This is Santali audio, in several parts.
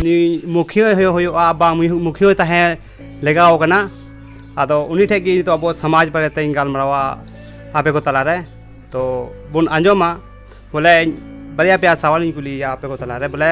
ᱱᱩᱭ ᱢᱩᱠᱷᱤᱭᱟᱹ ᱦᱩᱭᱩᱜᱼᱟ ᱵᱟᱝ ᱢᱩᱠᱷᱤᱭᱟᱹ ᱛᱟᱦᱮᱸ ᱞᱮᱜᱟᱣ ᱠᱟᱱᱟ ᱟᱫᱚ ᱩᱱᱤ ᱴᱷᱮᱡ ᱜᱮ ᱱᱤᱛᱚᱜ ᱟᱵᱚ ᱥᱚᱢᱟᱡᱽ ᱵᱟᱨᱮ ᱛᱮᱧ ᱜᱟᱞᱢᱟᱨᱟᱣᱟ ᱟᱯᱮ ᱠᱚ ᱛᱟᱞᱟᱨᱮ ᱛᱚ ᱵᱚᱱ ᱟᱸᱡᱚᱢᱟ ᱵᱚᱞᱮ ᱵᱟᱨᱭᱟ ᱯᱮᱭᱟ ᱥᱟᱣᱟᱞᱤᱧ ᱠᱩᱞᱤᱭᱮᱭᱟ ᱟᱯᱮ ᱠᱚ ᱛᱟᱞᱟᱨᱮ ᱵᱚᱞᱮ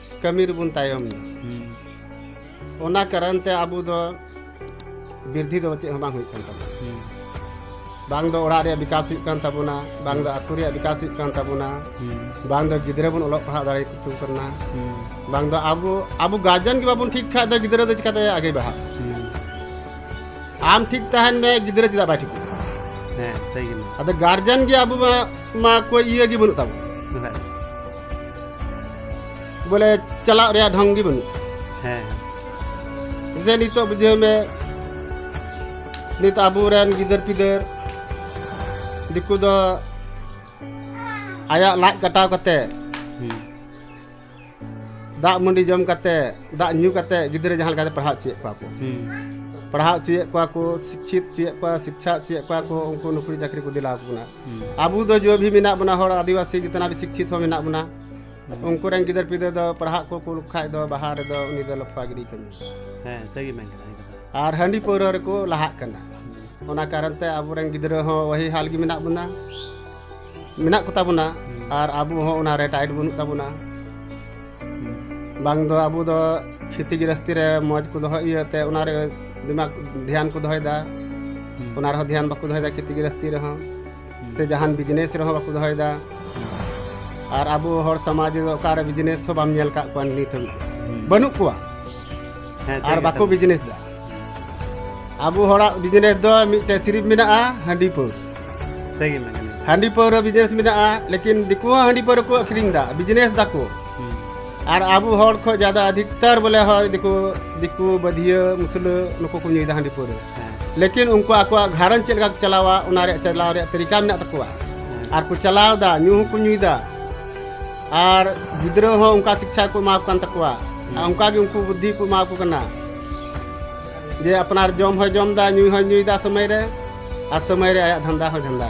ᱠᱟᱹᱢᱤ ᱨᱮᱵᱚᱱ ᱛᱟᱭᱚᱢ ᱮᱱᱟ ᱚᱱᱟ ᱠᱟᱨᱚᱱ ᱛᱮ ᱟᱵᱚ ᱫᱚ ᱵᱤᱨᱫᱷᱤ ᱫᱚ ᱪᱮᱫ ᱦᱚᱸ ᱵᱟᱝ ᱦᱩᱭᱩᱜ ᱠᱟᱱ ᱛᱟᱵᱚᱱᱟ ᱵᱟᱝ ᱫᱚ ᱚᱲᱟᱜ ᱨᱮᱭᱟᱜ ᱵᱤᱠᱟᱥ ᱦᱩᱭᱩᱜ ᱠᱟᱱ ᱛᱟᱵᱚᱱᱟ ᱵᱟᱝ ᱫᱚ ᱟᱛᱳ ᱨᱮᱭᱟᱜ ᱵᱤᱠᱟᱥ ᱦᱩᱭᱩᱜ ᱠᱟᱱ ᱛᱟᱵᱚᱱᱟ ᱵᱟᱝ ᱫᱚ ᱜᱤᱫᱽᱨᱟᱹ ᱵᱚᱱ ᱚᱞᱚᱜ ᱯᱟᱲᱦᱟᱜ ᱫᱟᱲᱮ ᱠᱚ ᱠᱟᱱᱟ ᱵᱟᱝ ᱫᱚ ᱟᱵᱚ ᱟᱵᱚ ᱜᱟᱨᱡᱮᱱ ᱜᱮ ᱵᱟᱵᱚᱱ ᱴᱷᱤᱠ ᱠᱷᱟᱡ ᱫᱚ ᱜᱤᱫᱽᱨᱟᱹ ᱫᱚ ᱪᱤᱠᱟᱛᱮ ᱟᱜᱮ ᱵᱟᱦᱟᱜ ᱟᱢ ᱴᱷᱤᱠ ᱛᱟᱦᱮᱱ ᱢᱮ ᱜᱤᱫᱽᱨᱟᱹ ᱪᱮᱫᱟᱜ ᱵᱟᱭ ᱴᱷᱤᱠᱚᱜ ᱦᱮᱸ ᱥᱟᱹᱨᱤ ᱜᱮ ᱟᱫᱚ ᱜᱟᱨᱡᱮᱱ ᱜᱮ ᱟᱵᱚ ᱢᱟ ᱢᱟ ᱠᱚᱭ ᱤᱭᱟᱹ ᱜᱮ ᱵᱟᱹᱱᱩᱜ ᱛᱟᱵᱚᱱᱟ ᱵᱚᱞᱮ ᱪᱟᱞᱟᱜ ᱨᱮᱭᱟᱜ ᱰᱷᱚᱝ ᱜᱮ ᱵᱟᱹᱱᱩᱜᱼᱟ ᱦᱮᱸ ᱡᱮ ᱱᱤᱛᱚᱜ ᱵᱩᱡᱷᱟᱹᱣ ᱢᱮ ᱱᱤᱛ ᱟᱵᱚᱨᱮᱱ ᱜᱤᱫᱟᱹᱨ ᱯᱤᱫᱟᱹᱨ ᱫᱤᱠᱩ ᱫᱚ ᱟᱭᱟᱜ ᱞᱟᱡ ᱠᱟᱴᱟᱣ ᱠᱟᱛᱮ ᱫᱟᱜ ᱢᱟᱹᱰᱤ ᱡᱚᱢ ᱠᱟᱛᱮ ᱫᱟᱜ ᱧᱩ ᱠᱟᱛᱮ ᱜᱤᱫᱽᱨᱟᱹ ᱡᱟᱦᱟᱸ ᱞᱮᱠᱟᱛᱮ ᱯᱟᱲᱦᱟᱣ ᱦᱚᱪᱚᱭᱮᱫ ᱠᱚᱣᱟ ᱠᱚ ᱯᱟᱲᱦᱟᱣ ᱦᱚᱪᱚᱭᱮᱫ ᱠᱚᱣᱟ ᱠᱚ ᱥᱤᱪᱪᱷᱤᱛ ᱦᱚᱪᱚᱭᱮᱫ ᱠᱚᱣᱟ ᱥᱤᱠᱪᱷᱟ ᱦᱚᱪᱚᱭᱮᱫ ᱠᱚᱣᱟ ᱠᱚ ᱩᱱᱠᱩ ᱱᱩᱠᱨᱤ ᱪᱟᱹᱠᱨᱤ ᱠᱚ ᱫᱤᱞᱟᱣ ᱠᱚ ᱠᱟᱱᱟ ᱟᱵᱚ ᱫᱚ ᱡᱚ ᱵᱷᱤ ᱢᱮᱱᱟᱜ ᱵᱚᱱᱟ ᱦᱚᱲ ᱟᱹᱫᱤᱵᱟᱹᱥᱤ ᱡᱤᱛᱱᱟ ᱵᱷᱤ ᱥᱤᱠᱪᱷᱤᱛ ᱦᱚᱸ ᱢᱮᱱᱟᱜ ᱵᱚᱱᱟ ᱩᱱᱠᱩ ᱨᱮᱱ ᱜᱤᱫᱟᱹᱨ ᱯᱤᱫᱟᱹᱨ ᱫᱚ ᱯᱟᱲᱦᱟᱜ ᱠᱚ ᱠᱩᱞ ᱠᱷᱟᱡ ᱫᱚ ᱵᱟᱦᱟ ᱨᱮᱫᱚ ᱩᱱᱤ ᱫᱚ ᱞᱚᱯᱷᱟ ᱜᱤᱰᱤ ᱠᱟᱹᱢᱤ ᱦᱮᱸ ᱥᱟᱹᱜᱤ ᱢᱮᱱ ᱠᱟᱱᱟ ᱟᱨ ᱦᱟᱺᱰᱤ ᱯᱟᱹᱣᱨᱟᱹ ᱨᱮᱠᱚ ᱞᱟᱦᱟᱜ ᱠᱟᱱᱟ ᱚᱱᱟ ᱠᱟᱨᱚᱱ ᱛᱮ ᱟᱵᱚ ᱨᱮᱱ ᱜᱤᱫᱽᱨᱟᱹ ᱦᱚᱸ ᱣᱟᱦᱤ ᱦᱟᱞ ᱜᱮ ᱢᱮᱱᱟᱜ ᱵᱚᱱᱟ ᱢᱮᱱᱟᱜ ᱠᱚᱛᱟ ᱵᱚᱱᱟ ᱟᱨ ᱟᱵᱚ ᱦᱚᱸ ᱚᱱᱟ ᱨᱮ ᱴᱟᱭᱤᱴ ᱵᱟᱹᱱᱩᱜ ᱛᱟᱵᱚᱱᱟ ᱵᱟᱝ ᱫᱚ ᱟᱵᱚ ᱫᱚ ᱠᱷᱮᱛᱤ ᱜᱨᱟᱥᱛᱤ ᱨᱮ ᱢᱚᱡᱽ ᱠᱚ ᱫᱚᱦᱚ ᱤᱭᱟᱹᱛᱮ ᱚᱱᱟ ᱨᱮ ᱫᱤᱢᱟᱜᱽ ᱫᱷᱮᱭᱟᱱ ᱠᱚ ᱫᱚᱦᱚᱭᱮᱫᱟ ᱚᱱᱟ ᱨᱮᱦᱚᱸ ᱫᱷᱮᱭᱟᱱ ᱵᱟᱠᱚ ᱫᱚᱦᱚᱭᱮᱫᱟ ᱠᱷᱮᱛᱤ ᱜᱨᱟᱥᱛᱤ ᱨᱮᱦᱚᱸ ᱥᱮ ᱡᱟᱦᱟᱱ ᱵᱤᱡᱽᱱᱮᱥ ᱨᱮᱦᱚᱸ ᱵᱟᱠᱚ ᱫᱚᱦᱚᱭᱮᱫᱟ ᱟᱨ ᱟᱵᱚ ᱦᱚᱲ ᱥᱚᱢᱟᱡᱽ ᱨᱮᱫᱚ ᱚᱠᱟᱨᱮ ᱵᱤᱡᱽᱱᱮᱥ ᱦᱚᱸ ᱵᱟᱢ ᱧᱮᱞ ᱠᱟᱜ ᱠᱚᱣᱟ ᱱᱤᱛ ᱦᱟᱹᱵᱤᱡ ᱵᱟᱹᱱᱩᱜ ᱠᱚᱣᱟ ᱟᱨ ᱵᱟᱠᱚ ᱵᱤᱡᱽᱱᱮᱥ ᱫᱟ ᱟᱵᱚ ᱦᱚᱲᱟᱜ ᱵᱤᱡᱽᱱᱮᱥ ᱫᱚ ᱢᱤᱫᱴᱮᱱ ᱥᱤᱨᱤᱯ ᱢᱮᱱᱟᱜᱼᱟ ᱦᱟᱺᱰᱤ ᱯᱟᱹᱣᱨᱟᱹ ᱥᱟᱹᱨᱤ ᱜᱮ ᱢᱮᱱᱟᱜᱼᱟ ᱦᱟᱺᱰᱤ ᱯᱟᱹᱣᱨᱟᱹ ᱵᱤᱡᱽᱱᱮᱥ ᱢᱮᱱᱟᱜᱼᱟ ᱞᱮᱠᱤᱱ ᱫᱤᱠᱩ ᱦᱚᱸ ᱦᱟᱺᱰᱤ ᱯᱟᱹᱣᱨᱟᱹ ᱠᱚ ᱟᱹᱠᱷᱨᱤᱧ ᱮᱫᱟ ᱵᱤᱡᱽᱱᱮᱥ ᱫᱟᱠᱚ ᱟᱨ ᱟᱵᱚ ᱦᱚᱲ ᱠᱷᱚᱱ ᱡᱟᱫᱟ ᱟᱫᱷᱤᱠᱛᱟᱨ ᱵᱚᱞᱮ ᱦᱚᱲ ᱫᱤᱠᱩ ᱫᱤᱠᱩ ᱵᱟᱹᱫᱷᱤᱭᱟᱹ ᱢᱩᱥᱞᱟᱹ ᱱᱩᱠᱩ ᱠᱚ ᱧᱩᱭᱮᱫᱟ ᱦᱟᱺᱰᱤ ᱯᱟᱹᱣᱨᱟᱹ ᱞᱮᱠᱤᱱ ᱩᱱᱠᱩ ᱟᱠᱚᱣᱟᱜ ᱜᱷᱟᱨᱚᱸᱡᱽ ᱪᱮᱫ ᱞᱮᱠᱟ ᱠᱚ ᱪᱟᱞᱟᱣᱟ ᱚᱱᱟ ᱨᱮᱭᱟᱜ ᱪᱟᱞᱟᱣ ᱨᱮᱭᱟᱜ ᱛᱟᱹᱨᱤᱠᱟ ᱢᱮᱱᱟᱜ ᱛᱟᱠᱚᱣᱟ ᱟᱨ ᱠᱚ ᱪᱟᱞᱟᱣᱫᱟ ᱧᱩ ᱦᱚᱸᱠᱚ ᱧᱩᱭᱮᱫᱟ ᱟᱨ ᱜᱤᱫᱽᱨᱟᱹ ᱦᱚᱸ ᱚᱱᱠᱟ ᱥᱤᱠᱪᱷᱟ ᱠᱚ ᱮᱢᱟ ᱠᱚ ᱠᱟᱱ ᱛᱟᱠᱚᱣᱟ ᱚᱱᱠᱟᱜᱮ ᱩᱱᱠᱩ ᱵᱩᱫᱽᱫᱷᱤ ᱠᱚ ᱮᱢᱟ ᱠᱚ ᱠᱟᱱᱟ ᱡᱮ ᱟᱯᱱᱟᱨ ᱡᱚᱢ ᱦᱚᱸ ᱡᱚᱢ ᱫᱟ ᱧᱩ ᱦᱚᱸ ᱧᱩᱭ ᱫᱟ ᱥᱚᱢᱚᱭ ᱨᱮ ᱟᱨ ᱥᱚᱢᱚᱭ ᱨᱮ ᱟᱭᱟᱜ ᱫᱷᱟᱱᱫᱟ ᱦᱚᱸ ᱫᱷᱟᱱᱫᱟ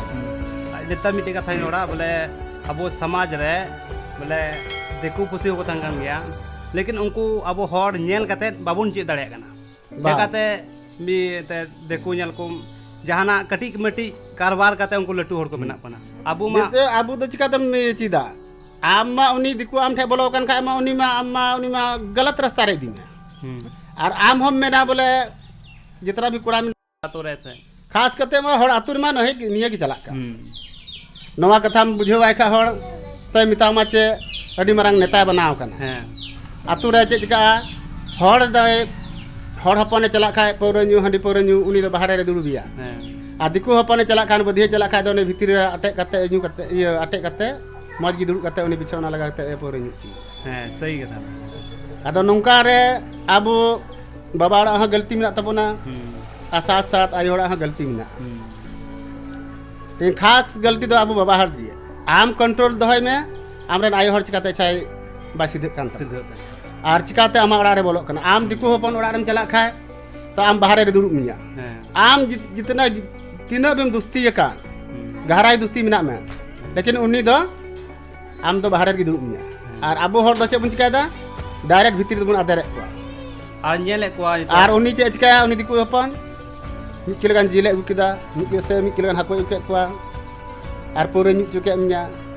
ᱱᱮᱛᱟᱨ ᱢᱤᱫᱴᱮᱡ ᱠᱟᱛᱷᱟᱧ ᱨᱚᱲᱟ ᱵᱚᱞᱮ ᱟᱵᱚ ᱥᱚᱢᱟᱡᱽ ᱨᱮ ᱵᱚᱞᱮ ᱫᱤᱠᱩ ᱯᱩᱥᱤ ᱦᱚᱸᱠᱚ ᱛᱟᱦᱮᱱ ᱠᱟᱱ ᱜᱮᱭᱟ ᱞᱮᱠᱤᱱ ᱩᱱᱠᱩ ᱟᱵᱚ ᱦᱚᱲ ᱧᱮᱞ ᱠᱟᱛᱮ ᱵᱟᱵᱚᱱ ᱪᱮᱫ ᱫᱟᱲᱮᱭᱟᱜ ᱠᱟᱱᱟ ᱪᱮᱠᱟᱛᱮ ᱢᱤᱫ ᱫᱤᱠᱩ ᱧᱮᱞ ᱠᱚᱢ ᱡᱟᱦᱟᱱᱟᱜ ᱠᱟᱹᱴᱤᱡ ᱢᱟᱹᱴᱤᱡ ᱠᱟᱨᱵᱟᱨ ᱠᱟᱛᱮ ᱩᱱᱠᱩ ᱞᱟᱹᱴᱩ ᱦᱚᱲ ᱠᱚ ᱵᱮᱱᱟᱜ ᱠᱟᱱᱟ ᱟᱵᱚ ᱢᱟ ᱟᱵᱚ ᱫᱚ ᱪᱮᱠᱟᱛᱮᱢ ᱪᱮᱫᱟ ᱟᱢ ᱢᱟ ᱩᱱᱤ ᱫᱤᱠᱩ ᱟᱢ ᱴᱷᱮᱱ ᱵᱚᱞᱚ ᱟᱠᱟᱱ ᱠᱷᱟᱡ ᱢᱟ ᱩᱱᱤ ᱢᱟ ᱟᱢ ᱢᱟ ᱩᱱᱤ ᱢᱟ ᱜᱟᱞᱟᱛ ᱨᱟᱥᱛᱟ ᱨᱮ ᱤᱫᱤ ᱢᱮ ᱟᱨ ᱟᱢ ᱦᱚᱸᱢ ᱢᱮᱱᱟ ᱵᱚᱞᱮ ᱡᱮᱛᱱᱟ ᱵᱷᱤ ᱠᱚᱲᱟ ᱢᱮᱱᱟᱜ ᱟᱛᱳ ᱨᱮ ᱥᱮ ᱠᱷᱟᱥ ᱠᱟᱛᱮ ᱢᱟ ᱦᱚᱲ ᱟᱛᱳ ᱨᱮᱢᱟ ᱱᱚᱦᱮ ᱱᱤᱭᱟᱹ ᱜᱮ ᱪᱟᱞᱟᱜ ᱠᱟᱱ ᱱᱚᱣᱟ ᱠᱟᱛᱷᱟᱢ ᱵᱩᱡᱷᱟᱹᱣᱟᱭ ᱠᱷᱟᱡ ᱦᱚᱲ ᱛᱚᱭ ᱢᱮᱛᱟᱢᱟ ᱪᱮ ᱟᱹᱰᱤ ᱢᱟᱨᱟᱝ ᱱᱮᱛᱟᱭ ᱵᱮᱱᱟᱣ ᱠᱟᱱᱟ ᱦᱮᱸ ᱟᱛᱳ ᱨᱮ ᱪᱮᱫ ᱪᱤᱠᱟᱜᱼᱟ ᱦᱚᱲ ᱫᱚᱭ ᱦᱚᱲ ᱦᱚᱯᱚᱱᱮ ᱪᱟᱞᱟᱜ ᱠᱷᱟᱡ ᱯᱟᱹᱣᱨᱟᱹ ᱧᱩ ᱦᱟᱺᱰᱤ ᱯᱟᱹᱣᱨᱟᱹ ᱧᱩ ᱩᱱᱤ ᱫᱚ ᱵᱟᱦᱨᱮ ᱨᱮ ᱫᱩᱲᱩᱵᱮᱭᱟ ᱦᱮᱸ ᱟᱨ ᱫᱤᱠᱩ ᱦᱚᱯᱚᱱᱮ ᱪᱟᱞᱟᱜ ᱠᱷᱟᱱ ᱵᱟᱹᱫᱷᱤᱭᱟᱹ ᱪᱟᱞᱟᱜ ᱠᱷᱟᱡ ᱫᱚ ᱩᱱᱤ ᱵᱷᱤᱛᱤᱨ ᱨᱮ ᱟᱴᱮᱫ ᱠᱟᱛᱮ ᱧᱩ ᱠᱟᱛᱮ ᱤᱭᱟᱹ ᱟᱴᱮᱫ ᱠᱟᱛᱮ ᱢᱚᱡᱽ ᱜᱮ ᱫᱩᱲᱩᱵ ᱠᱟᱛᱮ ᱩᱱᱤ ᱯᱤᱪᱷᱮ ᱚᱱᱟ ᱞᱟᱜᱟ ᱠᱟᱛᱮ ᱯᱟᱹᱣᱨᱟᱹ ᱧᱩ ᱦᱚᱪᱚᱭ ᱦᱮᱸ ᱥᱟᱹᱭ ᱠᱟᱛᱷᱟ ᱟᱫᱚ ᱱᱚᱝᱠᱟ ᱨᱮ ᱟᱵᱚ ᱵᱟᱵᱟ ᱚᱲᱟᱜ ᱦᱚᱸ ᱜᱟᱹᱞᱛᱤ ᱢᱮᱱᱟᱜ ᱛᱟᱵᱚᱱᱟ ᱟᱨ ᱥᱟᱛ ᱥᱟᱛ ᱟᱭᱳ ᱚᱲᱟᱜ ᱦᱚᱸ ᱜᱟᱹᱞᱛᱤ ᱢᱮᱱᱟᱜᱼᱟ ᱛᱮᱦᱮᱧ ᱠᱷᱟᱥ ᱜᱟᱹᱞᱛᱤ ᱫᱚ ᱟᱵᱚ ᱵᱟᱵᱟ ᱦᱚᱲ ᱜᱮ ᱟᱢ ᱠᱚᱱᱴᱨᱳᱞ ᱫᱚᱦᱚᱭ ᱢᱮ ᱟᱢᱨᱮᱱ ᱟᱭᱳ ᱦᱚᱲ ᱪᱤᱠᱟᱛᱮ ᱪᱷᱟᱭ ᱵᱟᱭ ᱥᱤᱫᱷᱟᱹᱜ ᱠᱟᱱ ᱛᱟᱢᱟ ᱟᱨ ᱪᱤᱠᱟᱛᱮ ᱟᱢᱟᱜ ᱚᱲᱟᱜ ᱨᱮ ᱵᱚᱞᱚᱜ ᱠᱟᱱᱟ ᱟᱢ ᱫᱤᱠᱩ ᱦᱚᱯᱚᱱ ᱚᱲᱟᱜ ᱨᱮᱢ ᱪᱟᱞᱟᱜ ᱠᱷᱟᱡ ᱛᱚ ᱟᱢ ᱵᱟᱦᱨᱮ ᱨᱮ ᱫᱩᱲᱩᱵ ᱢᱮᱭᱟ ᱟᱢ ᱡᱤᱛᱱᱟ ᱛᱤᱱᱟᱹᱜ ᱵᱮᱢ ᱫᱩᱥᱛᱤ ᱟᱠᱟᱱ ᱜᱟᱦᱨᱟᱭ ᱫᱩᱥᱛᱤ ᱢᱮᱱᱟᱜ ᱢᱮ ᱞᱮᱠᱤᱱ ᱩᱱᱤ ᱫᱚ ᱟᱢ ᱫᱚ ᱵᱟᱦᱨᱮ ᱨᱮᱜᱮ ᱫᱩᱲᱩᱵ ᱢᱮᱭᱟ ᱟᱨ ᱟᱵᱚ ᱦᱚᱲ ᱫᱚ ᱪᱮᱫ ᱵᱚᱱ ᱪᱤᱠᱟᱹᱭᱮᱫᱟ ᱰᱟᱭᱨᱮᱠᱴ ᱵᱷᱤᱛᱨᱤ ᱨᱮᱵᱚᱱ ᱟᱫᱮᱨᱮᱫ ᱠᱚᱣᱟ ᱟᱨ ᱧᱮᱞᱮᱫ ᱠᱚᱣᱟ ᱟᱨ ᱩᱱᱤ ᱪᱮᱫ ᱪᱤᱠᱟᱹᱭᱟ ᱩᱱᱤ ᱫᱤᱠᱩ ᱦᱚᱯᱚᱱ ᱢᱤᱫ ᱠᱤᱞᱳ ᱜᱟᱱ ᱡᱤᱞᱮ ᱟᱹᱜᱩ ᱠᱮᱫᱟ ᱢᱤᱫ ᱥᱮ ᱢᱤᱫ ᱠᱤᱞᱳ ᱜᱟᱱ ᱦᱟᱹᱠᱩᱭ ᱟᱹᱜᱩ ᱠᱮᱫ ᱠᱚᱣᱟ ᱟᱨ ᱯᱟᱹᱣᱨᱟᱹ ᱧᱩ ᱦᱚᱪᱚ ᱠᱮᱫ ᱢᱮᱭᱟ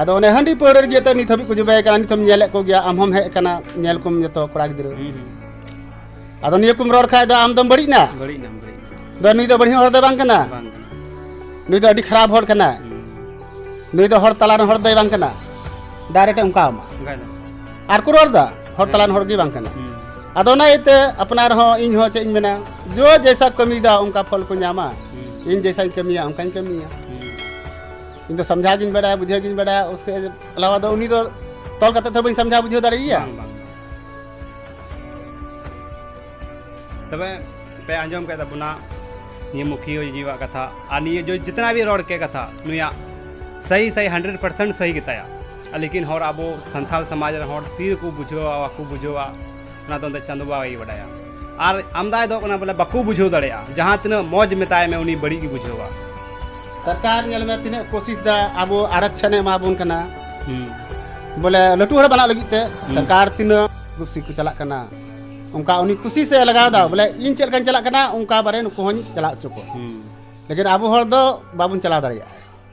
ᱟᱫᱚ ᱚᱱᱮ ᱦᱟᱺᱰᱤ ᱯᱟᱹᱣᱨᱟᱹ ᱨᱮᱜᱮ ᱛᱮ ᱱᱤᱛ ᱦᱟᱹᱵᱤᱡ ᱠᱚ ᱡᱚᱵᱮ ᱠᱟᱱᱟ ᱱᱤᱛᱚᱢ ᱧᱮᱞᱮᱫ ᱠᱚ ᱜᱮᱭᱟ ᱟᱢ ᱦᱚᱢ ᱦᱮᱡ ᱠᱟᱱᱟ ᱧᱮᱞ ᱠᱚᱢ ᱡᱚᱛᱚ ᱠᱚᱲᱟ ᱜᱤᱫᱽᱨᱟᱹ ᱟᱫᱚ ᱱᱤᱭᱟᱹ ᱠᱚᱢ ᱨᱚᱲ ᱠᱷᱟᱡ ᱫᱚ ᱟᱢ ᱫᱚᱢ ᱵᱟᱹᱲᱤᱡ ᱱᱟ ᱵᱟᱹᱲᱤᱡ ᱱᱟ ᱵᱟᱹᱲᱤᱡ ᱫᱚ ᱱᱩᱭ ᱫᱚ ᱵᱟᱹᱲᱤᱡ ᱦᱚᱲ ᱫᱚ ᱵᱟᱝ ᱠᱟᱱᱟ ᱱᱩᱭ ᱫᱚ ᱟᱹᱰᱤ ᱠᱷᱟᱨᱟᱯ ᱦᱚᱲ ᱠᱟᱱᱟ ᱱᱩᱭ ᱫᱚ ᱦᱚᱲ ᱛᱟᱞᱟ ᱨᱮ ᱦᱚᱲ ᱫᱚᱭ ᱵᱟᱝ ᱠᱟᱱᱟ ᱰᱟᱭᱨᱮᱠᱴ ᱚᱱᱠᱟ ᱟᱢᱟ ᱟᱨ ᱠᱚ ᱨᱚᱲ ᱫᱟ ᱦᱚᱲ ᱛᱟᱞᱟᱱ ᱦᱚᱲ ᱜᱮ ᱵᱟᱝ ᱠᱟᱱᱟ ᱟᱫᱚ ᱚᱱᱟ ᱤᱭᱟᱹᱛᱮ ᱟᱯᱱᱟᱨ ᱦᱚᱸ ᱤᱧ ᱦᱚᱸ ᱪᱮᱫ ᱤᱧ ᱢᱮᱱᱟ ᱡᱚ ᱡᱮᱥᱟ ᱠᱟᱹᱢᱤᱭᱮᱫᱟ ᱚᱱᱠᱟ ᱯᱷᱚᱞ ᱠᱚ ᱧᱟᱢᱟ ᱤᱧ ᱡᱮᱥᱟᱧ ᱠᱟᱹᱢᱤᱭᱟ ᱚᱱᱠᱟᱧ ᱠᱟᱹᱢᱤᱭᱟ ᱤᱧ ᱫᱚ ᱥᱟᱢᱡᱷᱟᱣ ᱜᱤᱧ ᱵᱟᱲᱟᱭᱟ ᱵᱩᱡᱷᱟᱹᱣ ᱜᱤᱧ ᱵᱟᱲᱟᱭᱟ ᱩᱥᱠᱮ ᱟᱞᱟᱣᱟ ᱫᱚ ᱩᱱᱤ ᱫᱚ ᱛᱚᱞ ᱠᱟᱛᱮ ᱫᱚ ᱵᱟᱹᱧ ᱥᱟᱢᱡᱷᱟᱣ ᱵᱩᱡᱷᱟᱹᱣ ᱫᱟᱲᱮᱭᱟᱭᱟ ᱛᱚᱵᱮ ᱯᱮ ᱟᱸᱡᱚᱢ ᱠᱮᱫ ᱛᱟᱵᱚᱱᱟ ᱱᱤᱭᱟᱹ ᱢᱩᱠᱷᱤᱭᱟᱹ ᱡᱤᱣᱟᱜ ᱠᱟᱛᱷᱟ ᱟᱨ ᱱᱤᱭᱟᱹ ᱡᱚ ᱡᱤᱛᱱᱟ ᱵᱤ ᱨᱚᱲ ᱠᱮᱫ ᱠᱟᱛᱷᱟ ᱱᱩᱭᱟᱜ ᱥᱟᱹᱦᱤ ᱥᱟᱹᱦᱤ ᱦᱟᱱᱰᱨᱮᱰ ᱯᱟᱨᱥᱮᱱᱴ ᱥᱟᱹᱦᱤ ᱜᱮᱛᱟᱭᱟ ᱞᱮᱠᱤᱱ ᱦᱚᱲ ᱟᱵᱚ ᱥᱟᱱᱛᱟᱲ ᱥᱚᱢᱟᱡᱽ ᱨᱮᱱ ᱦᱚᱲ ᱛᱤ ᱨᱮᱠᱚ ᱵᱩᱡᱷᱟᱹᱣᱟ ᱵᱟᱠᱚ ᱵᱩᱡᱷᱟᱹᱣᱟ ᱚᱱᱟ ᱫᱚ ᱪᱟᱸᱫᱚ ᱵᱟᱵᱟ ᱜᱮᱭ ᱵᱟᱰᱟᱭᱟ ᱟᱨ ᱟᱢᱫᱟᱭ ᱫᱚ ᱠᱟᱱᱟ ᱵᱚᱞᱮ ᱵᱟᱠᱚ ᱵᱩᱡᱷᱟᱹᱣ ᱫᱟᱲᱮᱭᱟᱜᱼᱟ ᱡᱟᱦᱟᱸ ᱛᱤᱱᱟᱹᱜ ᱢᱚᱡᱽ ᱢᱮᱛᱟᱭ ᱢᱮ ᱩᱱᱤ ᱵᱟᱹᱲᱤᱡ ᱜᱮ ᱵᱩᱡᱷᱟᱹᱣᱟ ᱥᱚᱨᱠᱟᱨ ᱧᱮᱞ ᱢᱮ ᱛᱤᱱᱟᱹᱜ ᱠᱳᱥᱤᱥ ᱫᱟ ᱟᱵᱚ ᱟᱨᱚᱠᱥᱚᱱ ᱮ ᱮᱢᱟᱵᱚᱱ ᱠᱟᱱᱟ ᱵᱚᱞᱮ ᱞᱟᱹᱴᱩ ᱦᱚᱲ ᱵᱟᱱᱟᱜ ᱞᱟᱹᱜᱤᱫ ᱛᱮ ᱥᱚᱨᱠᱟᱨ ᱛᱤᱱᱟᱹᱜ ᱠᱩᱥᱤ ᱠᱚ ᱪᱟᱞᱟᱜ ᱠᱟᱱᱟ ᱚᱱᱠᱟ ᱩᱱᱤ ᱠᱩᱥᱤ ᱥᱮ ᱞᱟᱜᱟᱣ ᱫᱟ ᱵᱚᱞᱮ ᱤᱧ ᱪᱮᱫ ᱞᱮᱠᱟᱧ ᱪᱟᱞᱟᱜ ᱠᱟᱱᱟ ᱚᱱᱠᱟ ᱵᱟᱨᱮ ᱱᱩᱠᱩ ᱦᱚᱧ ᱪᱟᱞᱟᱣ ᱦᱚᱪᱚ ᱠᱚᱣᱟ ᱞᱮᱠᱤᱱ ᱟᱵᱚ ᱦᱚᱲ ᱫᱚ ᱵᱟᱵᱚᱱ ᱪᱟᱞᱟᱣ ᱫᱟᱲᱮᱭᱟᱜᱼᱟ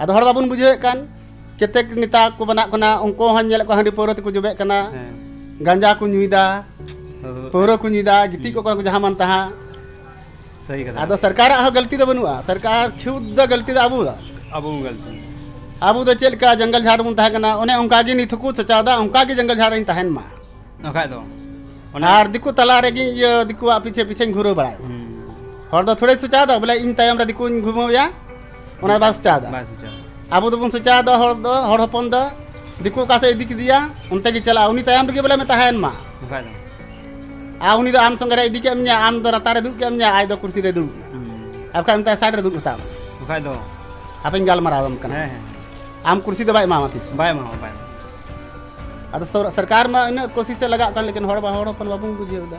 ᱟᱫᱚ ᱦᱚᱲ ᱵᱟᱵᱚᱱ ᱵᱩᱡᱷᱟᱹᱣᱮᱫ ᱠᱟᱱ ᱠᱮᱛᱮᱠ ᱱᱮᱛᱟ ᱠᱚ ᱵᱮᱱᱟᱜ ᱠᱟᱱᱟ ᱩᱱᱠᱩ ᱦᱚᱸ ᱧᱮᱞᱮᱫ ᱠᱚᱣᱟ ᱦᱟᱺᱰᱤ ᱯᱟᱹᱣᱨᱟᱹ ᱛᱮᱠᱚ ᱡᱚᱵᱮᱜ ᱠᱟᱱᱟ ᱜᱟᱸᱡᱟ ᱠᱚ ᱧᱩᱭᱫᱟ ᱯᱟᱹᱣᱨᱟᱹ ᱠᱚ ᱧᱩᱭᱫᱟ ᱜᱤᱛᱤᱡ ᱠᱚᱜ ᱠᱟᱱᱟ ᱠᱚ ᱡᱟᱦᱟᱸ ᱢᱟᱱ ᱛᱟᱦᱟᱸ ᱥᱟᱹᱦᱤ ᱠᱟᱛᱷᱟ ᱟᱫᱚ ᱥᱚᱨᱠᱟᱨᱟᱜ ᱦᱚᱸ ᱜᱟᱹᱞᱛᱤ ᱫᱚ ᱵᱟᱹᱱᱩᱜᱼᱟ ᱥᱚᱨᱠᱟᱨ ᱠᱷᱩᱫ ᱫᱚ ᱜᱟᱹᱞᱛᱤ ᱫᱚ ᱟᱵᱚ ᱫᱚ ᱟᱵᱚ ᱜᱟᱹᱞᱛᱤ ᱟᱵᱚ ᱫᱚ ᱪᱮᱫ ᱞᱮᱠᱟ ᱡᱚᱝᱜᱚᱞ ᱡᱷᱟᱲ ᱵᱚᱱ ᱛᱟᱦᱮᱸ ᱠᱟᱱᱟ ᱚᱱᱮ ᱚᱱᱠᱟ ᱜᱮ ᱱᱤᱛ ᱦᱚᱸᱠᱚ ᱥᱚᱪᱟᱣᱫᱟ ᱚᱱᱠᱟ ᱜᱮ ᱡᱚᱝᱜᱚᱞ ᱡᱷᱟᱲ ᱨᱤᱧ ᱛᱟᱦᱮᱱ ᱢᱟ ᱵᱟᱠᱷᱟᱡ ᱫᱚ ᱟᱨ ᱫᱤᱠᱩ ᱛᱟᱞᱟ ᱨᱮᱜᱮ ᱤᱭᱟᱹ ᱫᱤᱠᱩᱣᱟᱜ ᱯᱤᱪᱷᱮ ᱯᱤᱪᱷᱮᱧ ᱜᱷᱩᱨᱟᱹᱣ ᱵᱟᱲᱟᱭ ᱦᱚᱲ ᱫᱚ ᱛᱷᱚᱲᱮ ᱥᱚᱪᱟᱣᱫᱟ ᱵᱚᱞᱮ ᱤᱧ ᱛᱟᱭᱚᱢ ᱨᱮ ᱫᱤᱠᱩᱧ ᱜᱷᱩᱢᱟᱹᱣᱭᱟ ᱚᱱᱟ ᱵᱟᱭ ᱥᱮᱪᱟ ᱮᱫᱟ ᱵᱟᱭ ᱥᱮᱪᱟ ᱟᱵᱚ ᱫᱚᱵᱚᱱ ᱥᱮᱪᱟ ᱮᱫᱟ ᱦᱚᱲ ᱫᱚ ᱦᱚᱲ ᱦᱚᱯᱚᱱ ᱫᱚ ᱫᱤᱠᱩ ᱚᱠᱟ ᱥᱮᱫ ᱤᱫᱤ ᱠᱮᱫᱮᱭᱟ ᱚᱱᱛᱮ ᱜᱮ ᱪᱟᱞᱟᱜᱼᱟ ᱩᱱᱤ ᱛᱟᱭᱚᱢ ᱨᱮᱜᱮ ᱵᱚᱞᱮ ᱛᱟᱦᱮᱱ ᱢᱟ ᱵᱟᱠᱷᱟᱡ ᱫᱚ ᱟᱨ ᱩᱱᱤ ᱫᱚ ᱟᱢ ᱥᱚᱸᱜᱮ ᱨᱮ ᱤᱫᱤ ᱠᱮᱫ ᱢᱮᱭᱟ ᱟᱢ ᱫᱚ ᱨᱟᱛᱟ ᱨᱮ ᱫᱩᱲᱩᱵ ᱠᱮᱫ ᱢᱮᱭᱟ ᱟᱡ ᱫᱚ ᱠᱩᱨᱥᱤ ᱨᱮ ᱫᱩᱲᱩᱵ ᱟᱨ ᱵᱟᱠᱷᱟᱡ ᱢᱮᱛᱟᱭ ᱥᱟᱭᱤᱰ ᱨᱮ ᱫᱩᱲᱩᱵ ᱦᱟᱛᱟᱲ ᱵᱟᱠᱷᱟᱡ ᱫᱚ ᱦᱟᱯᱮᱧ ᱜᱟᱞᱢᱟᱨᱟᱣ ᱟᱢ ᱠᱟᱱᱟ ᱦᱮᱸ ᱦᱮᱸ ᱟᱢ ᱠᱩᱨᱥᱤ ᱫᱚ ᱵᱟᱭ ᱮᱢᱟᱢᱟ ᱛᱤᱥ ᱵᱟᱭ ᱮᱢᱟᱢᱟ ᱵᱟᱭ ᱮᱢᱟᱢᱟ ᱟᱫᱚ ᱥᱚᱨᱠᱟᱨ ᱢᱟ ᱤᱱᱟᱹᱜ ᱠᱳᱥᱤᱥ ᱮ ᱞᱟᱜᱟᱜ ᱠᱟᱱ ᱞᱮᱠᱤᱱ ᱦᱚᱲ ᱵᱟ ᱦᱚᱲ ᱦᱚᱯᱚᱱ ᱵᱟᱵᱚᱱ ᱵᱩᱡᱷᱟᱹᱣ ᱮᱫᱟ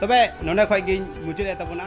ᱛᱚᱵᱮ ᱱᱚᱰᱮ ᱠᱷᱚᱡ ᱜᱤᱧ ᱢᱩᱪᱟᱹᱫ ᱮᱫ ᱛᱟᱵᱚᱱᱟ